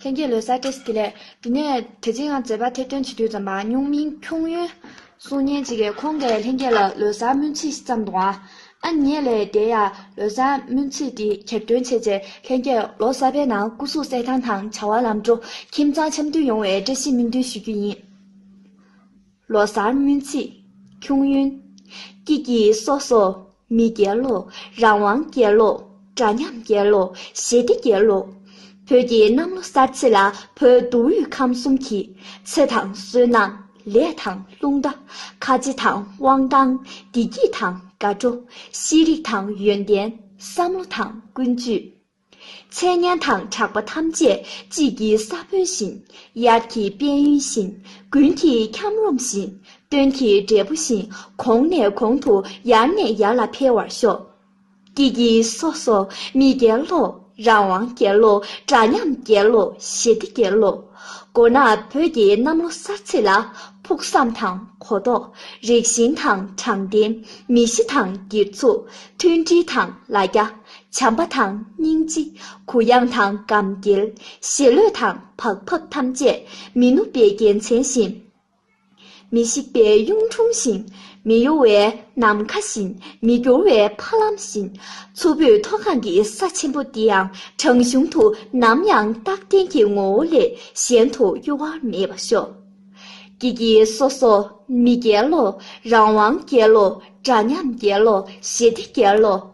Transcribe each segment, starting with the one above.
ལྷན་རྒྱས་ལོའི་གསར་བརྗེ་སྐྱིད་ལས་དེ་ནས་དེ་རྗེས་ཡང་མཛད་པ་ཐེར་འདོན་བྱེད་དུས་ཙམ་པ་སྨྱུག་མིང་ཁྱུང་ཡོན་གསུང་སྙན་གཅིག་གིས་ཁོང་གིས་ལྷན་རྒྱས་ལ་ལོའི་གསར་སྨོན་ཚིག་བརྩམས་དང། ཨ་མྱེས་ལས་དེ་ཡང་ལོའི་གསར་སྨོན་ཚིག་དེ་གྱེར་འདོན་བྱས་རྗེས་ལྷན་རྒྱས་ལོ་གསར་པའི་ནང་སྐུ་གཟུགས་གསལ་ཐང་དང་བྱ་བ་ལམ་འགྲོ་ཁྱིམ་ཚང་འཆམ་མཐུན་ཡོང་བའི་བཀྲ་ཤིས་སྨོན་འདུན་ཞུ་རྒྱུ་ཡིན། ལོ་གསར་སྨོན་ཚིག། ཁྱུང་གཡོན། ཀྱི་ཀྱི་སོགས་སོ། མི་རྒྱལ་ལོ། རང་དབང་རྒྱལ་ལོ། འདྲ་མཉམ་རྒྱལ་ལོ། ཞི་བདེ་རྒྱལ་ལོ། བོད་ཀྱི་གནམ་ལོ་གསར་ཚེས་ལ་བོད་མདོ་དབུས་ཁམས་གསུམ་གྱི། ཚེ་དང་བསོད་ནམས། ལས་དང་རླུང་རྟ། ཁ་རྗེ་དང་དབང་ཐང། བདེ་སྐྱིད་དང་དགའ་སྤྲོ། ཤེས་རིག་དང་ཡོན་ཏན། བསམ་བློ་དང་ཀུན་སྤྱོད། འཆད་ཉན་དང་གྲགས་པ་ཐམས་ཅད་དཔྱིད་ཀྱི་ས་བོན་བཞིན། དབྱར་གྱི་དཔལ་ཡོན་བཞིན། དགུན་གྱི་འཁྱམས་རོམ་བཞིན། སྟོན་གྱི་འབྲས་བུ་བཞིན་གོང་ནས་གོང་དུ་ཡར་ནས་ཡར་ལ་འཕེལ་བར་ཤོག། ཀྱེ་ཀྱེ་སོ་སོ་མི་རྒྱལ་ལོ། རང་དབང་རྒྱལ་ལོ། འདྲ་མཉམ་རྒྱལ་ལོ། ཞི་བདེ་རྒྱལ་ལོ། མགོ་ནག་བོད་ཀྱི་གནམ་ལོ་གསར་ཚེས་ལ། ཕུགས་བསམ་དང་གོ་རྟོགས། རིགས་ཞེན་དང་དྲང་བདེན། མི་གཞི་དང་སྒེར་ཚུགས། མཐུན་སྒྲིལ་དང་ལ་རྒྱ། བྱམས་པ་དང་སྙིང་རྗེ། གུ་ཡངས་དང་སྒམ་སྐྱེལ། ཞེ་ལོས་དང་བག་ཕབ་ཐམས་ཅད་མི་ནུབ་པའི་རྒྱལ་མཚན་བཞིན། མི་ཤིགས་པའི་གཡུང་དྲུང་བཞིན། མི་གཡོ་བའི་ནམ་མཁའ་བཞིན། མི་འགྱུར་བའི་ཕ་ལམ་བཞིན། མཚུར་ཕུའི་མཐོ་སྒང་གི་ས་ཆེན་པོ་འདི་ཡང་བྲང་གཞུང་དུ་ནམ་ཡང་རྟག་བརྟན་གྱི་ངོ་བོ་ལས་གཞན་དུ་གཡོ་བ་མེད་པར་ཤོག། ཀྱེ་ཀྱེ་སོ་སོ་མི་རྒྱལ་ལོ། རང་དབང་རྒྱལ་ལོ། འདྲ་མཉམ་རྒྱལ་ལོ། ཞི་བདེ་རྒྱལ་ལོ།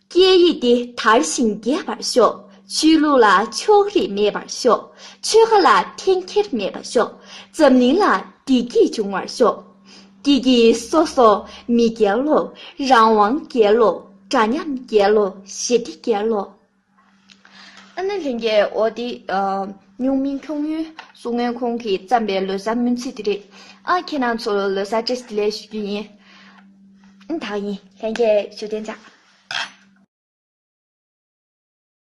སྐད་ཡིག་འདི་དར་ཞིང་རྒྱས་པར་ཤོག། ཆོས་ལུགས་ལ་ཕྱོགས་རིས་མེད་པར་ཤོག། ཆོལ་ཁ་ལ་འཐེན་འཁྱེར་མེད་པར་ཤོག། འཛམ་གླིང་ལ་བདེ་སྐྱིད་འབྱུང་བར་ཤོག། སྐྱིད་སྐྱིད་སོ་སོ་མི་རྒྱལ་ལོ། རང་དབང་རྒྱལ་ལོ། འདྲ་མཉམ་རྒྱལ་ལོ་ཞི་བདེ་རྒྱལ་ལོ། ཨ་ནེ་ལྷན་རྒྱས་ཨོ་དེ། སྨྱུག་མིང་ཁྱུང་མོའི་གསུང་ངན་ཁོང་གིས་བརྩམས་པའི་ལོ་སར་སྨོན་ཚིག་དེ་རེད་ཨ། ཁྱེད་རང་ཚོ་ལོ་སར་ཅེས་དེ་ལས་ཞུ་རྒྱུ་ཡིན། ཨིན་དག་ཡིན། ལྷན་རྒྱས་ཞུ་རྟེན་བྱ།